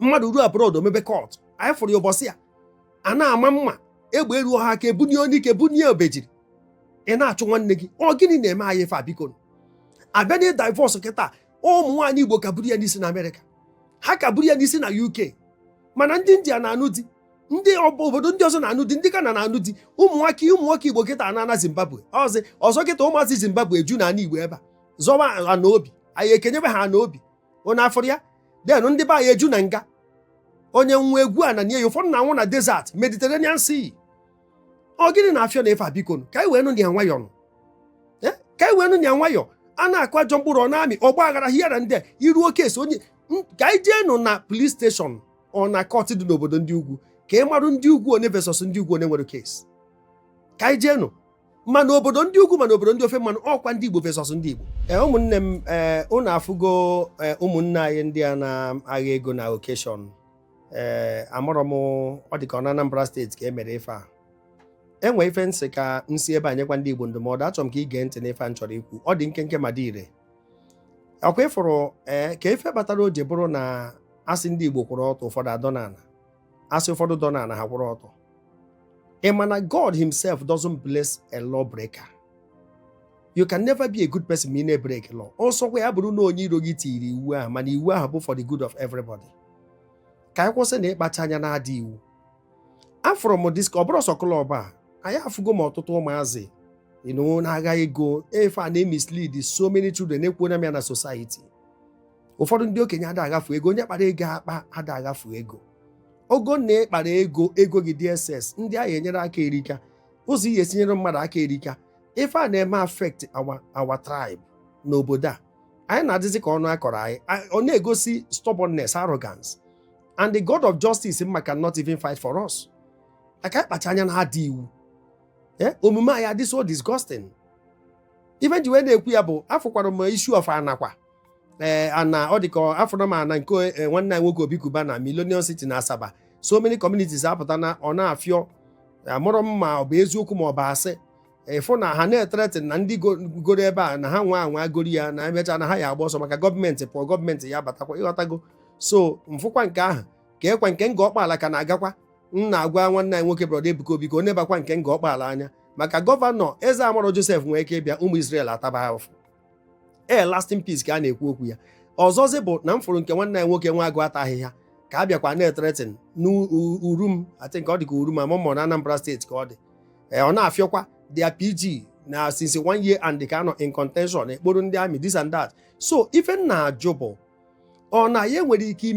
mmadụ ruo abroad o mebe cult anyị fụrụ ya ụbọchị ya a na-ama mma egbe eruo ha aka ebunye anyike bunye obejiri ị na-achụ nwanne gị ọ gịnị na-eme anyị ife a biko a bịa na divorce kịta ụmụ nwaanyị Igbo ka buru ya n'isi na Amerịka ha ka buru ya n'isi na UK mana ndị India na-anụ di ndị obodo ndị ọzọ na-anụ di ndị Ghana na-anụ di ụmụ nwoke ụmụ nwoke Igbo kịta ana na Zimbabwe ọzọ kịta ụmụazị Zimbabwe eju na ana Igbo ebe a zọwa ana obi anyị ekenyebe ha ana obi onye afọrọ ya then ndị be anyị eju na nga onye nwa egwu a na nye ya ụfọdụ na-anwụ na desert Mediterranean Sea ọ gịnị na-afịọ na ife a biko ka anyị wee nụ ya nwayọọ nụ eh? ka anyị wee nụ ya nwayọọ a na-akụ ajọ mkpụrụ ọ na-amị ọgba aghara hiara ndị iru oke esi onye ka anyị jee nụ na police station ọ na court dị n'obodo ndị ugwu ka ị marụ ndị ugwu one versus ndị ugwu one nwere case ka anyị jee nụ ma na obodo ndị ugwu ma na obodo ndị ofe mmanụ ọkwa ndị Igbo versus ndị Igbo ee eh, ụmụnne m ee eh, ụnụ afụgo eh, ụmụnne anyị ndị a na-agha ego na occasion ee amarọ m ọ dị ka ọ na Anambra steeti ka e mere ife a e nwe ife m sị ka m si ebe a nyekwa ndị Igbo ndụmọdụ achọrọ m ka i gee ntị n'ife a m chọrọ ikwu ọ dị nkenke ma dị ire ọkwa ị fụrụ ee ka ife batara o ji bụrụ na a sị ndị Igbo kwụrụ ọtọ ụfọdụ adọ n'ala a sị ụfọdụ dọ n'ala ha kwụrụ ọtọ ị ma na God himself doesn't bless a law breaker you can never be a good person ma ị na-ebreak law ọ sọkwa ya bụrụ na onye iro gị tiri iwu ahụ mana iwu ahụ bụ for the good of everybody ka anyị kwụsị na ịkpacha anya na-ada iwu afụrụ m this ọ bụrọ sọ club a anyị afụgo m ọtụtụ ụmụazị na-agha ego ife a na-emislead so many children ekwuona m ya na society ụfọdụ ndị okenye ada aghafu ego onye kpara ego akpa ada aghafu ego ọ bụ na ị kpara ego ego gị dị excess ndị a ga-enyere aka erika ụzọ ị ya-esi nyere mmadụ aka erika ife a na-eme affect our our tribe n'obodo a anyị na-adịzi ka ọnụ akọrọ anyị ọ na-egosi stubbornness arrogance and the God of justice mma cannot even fight for us maka ịkpacha anya na-ada iwu eh, omume anyị adị so disgusting ife m ji wee na-ekwu ya bụ afụkwara m issue of ana kwa ee ana ọ dị ka afụrụ m ana nke eh, nwanne anyị nwoke Obi Cubana Millennium City na Asaba so many communities apụta na ọ na-afịọ amarọ m ma ọ bụ eziokwu ma ọ bụ asị ị fụ na ha na-etreten ndị go- goro ebe a na ha nwa anwa goro ya na e mecha na ha ya agba ọsọ maka gọọmenti pụọ gọọmenti ya abatakwa ị ghọtago so m fụkwa nke ahụ ka ekwa nke Ngọ Ọkpaala ka m na-agwakwa m na-agwa nwanne anyị nwoke brọda Ebuka Obi ka ọ nebakwa nke Ngọ Ọkpaala anya maka gọvanọ eze amarọ Josef nwere ike ịbịa ụmụ Israel ataba ahụfụ ee lasting peace ka a na-ekwu okwu ya ọzọzi bụ na m fụrụ nke nwanne anyị nwoke nwa agụ ata ahịhịa ka a bịakwa na-etretin n'Urum I think ọ dị ka Urum ama m na Anambra steeti ka ọ dị ee ọ na-afịọkwa there PG na since one year and ka a nọ in contention e kporo ndị army this and that so ife m na-ajụ bụ ọ na ya nwere ike ime